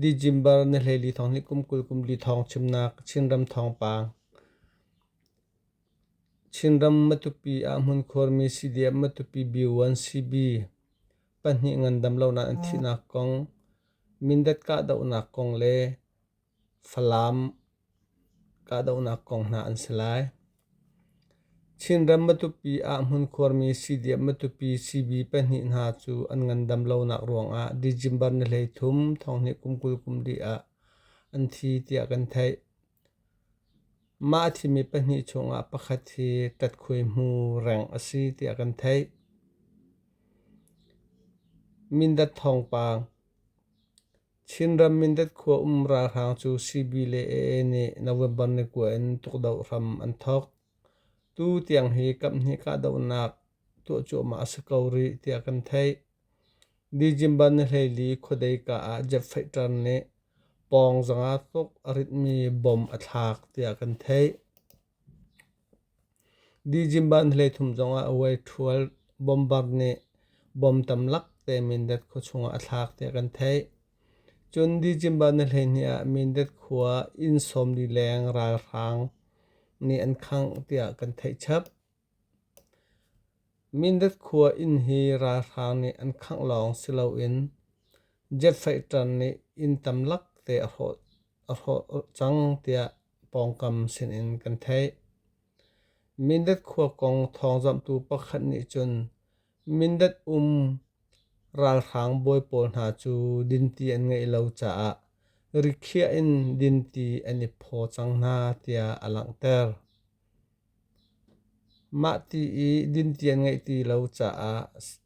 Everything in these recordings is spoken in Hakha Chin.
December na hleli thawng nih kum kul kum li thawng chimnak Chinram thawngpang. Chinram Matupi ah hmunkhurmi CDF Matupi B1CB pahnih ngandam lonak an thihnak kong, Mindat kahdohnak kong le Falam kahdohnak kong hna an si lai. Chinram Matupi ah hmunkhuarmi siidiam Matupi CB pahnih hna cu an ngandam lonak ruangah December ni hleithum thonghnih kum kul kum li ah an thi tiah kan theih. Mah a thimi pahnih chungah pakhat hi Katkhui hmu reng a si tiah kan theih. Mindat thawngpang Chinram Mindat khua um ralhrang cu CB le AA nih November ni kua in tukdoh hram an thawk. Tu tiang hi kamhnih kahdohnak tuah cuahmah a si ko rih tiah kan theih. December ni hleili khuadei ka ah Jeff Feiter nih pawng zanga tuk a ritmi bom a thlak tiah kan theih. Dijimban hleithum zongah a uai ṭhual. Bombard nih bom tamlak te Mindat khua chungah a thlak tiah kan theih. Cun Dijimban na hleihnih ah Mindat khua inn sawmli leng ralhrang nih an khangh tiah kan theih chap. Mindat khua inn hi ralhrang nih an khangh lawng si loin jet fighter nih inn tamlak te a hrawh cang tiah pawngkam sinin kan theih. Mindat khua kong thawngzamhtu pakhat nih cun Mindat um ralhrang bawi pawl hna cu dinti an ngeih lo caah rikhiah in dinti an i phaw cang hna tiah a langhter. Mah ti i dinti an ngeih ti lo caah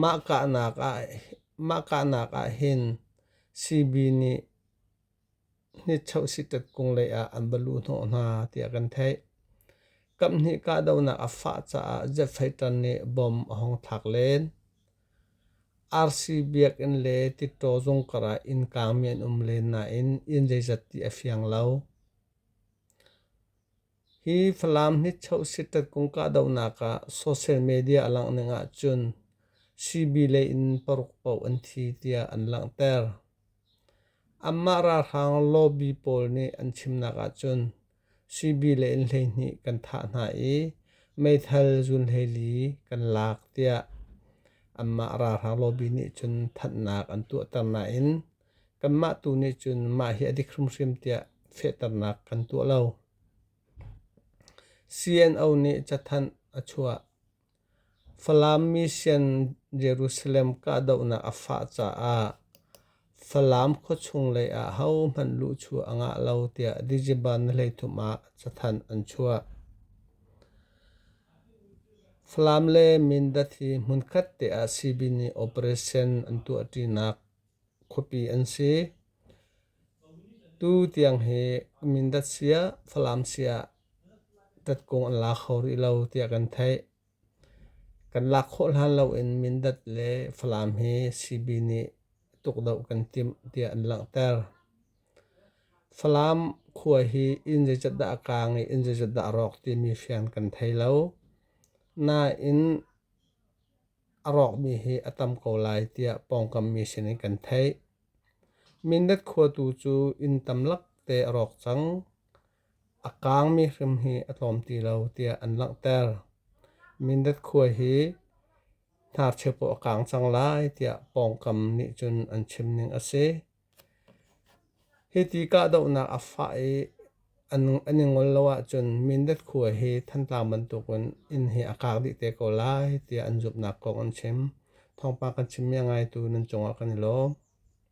Mah kahnak ahhin CB nih nichohsitet kung lei ah an va luh hnawh hna tiah kan theih. Kaphnih kahdohnak a fah caah Jepfaitan nih bom a hong thlak len. RC biakinn le tittaw zung karah innkaangmi an um len nain inn zeizat ti a fiang lo. Hi Falam hnichoh siṭat kum kahdohnak ah social media a langhning ahcun sibi lei in paruk paoh an thi tiah an langhter. Anmah ralhrang lobby pawl nih an chimnak ahcun sibi lei in hleihnih kan thah hna i meithal zunhleili kan lak tiah anmah ralhrang lobby nih cun thanhnak an tuahter nain Kanmah tu nih cun mah hi a dik hrimhrim tiah fehternak kan tuah lo. CNO nih cathanh a chuah. Falam mission Jerusalem kahdohnak a fah caah Falam khuachung lei ah hohmanh luhchuah a ngah lo tiah Dijiban hleithum ah cathanh an chuah. Falam le Mindat hi hmunkhat te ah CB nih operation an tuahṭinak Khuapi an si. Tu tiang hi mindat siah Falam siah tatkung an la kho rih lo tiah kan theih. Kan lak khawh hlan loin Mindat le Falam hi CB nih tukdoh kan timh tiah an langhter. Falam khua hi inn zeizat dah a kaang i inn zeizat dah a rawk timi fian kan thei lo. Nain a rawkmi hi a tam ko lai tiah pawngkammi sinin kan theih. Mindat khua tu cu inn tamlak te a rawk cang. A kaangmi hrim hi a tlawm ti lo tiah an langhter. Mindat khua hi hnarchia paoh a kaang cang lai tiah pawngkam nih cun an chim ning a si. Hiti kahdohnak a fah i an i ngol lo ahcun Mindat khua hi Thantlang bantukin inn hi a kak dih te ko lai tiah an zumhnak kong an chim. Thawngpang kan chim mi a ngaitu nan cungah kan i lawm.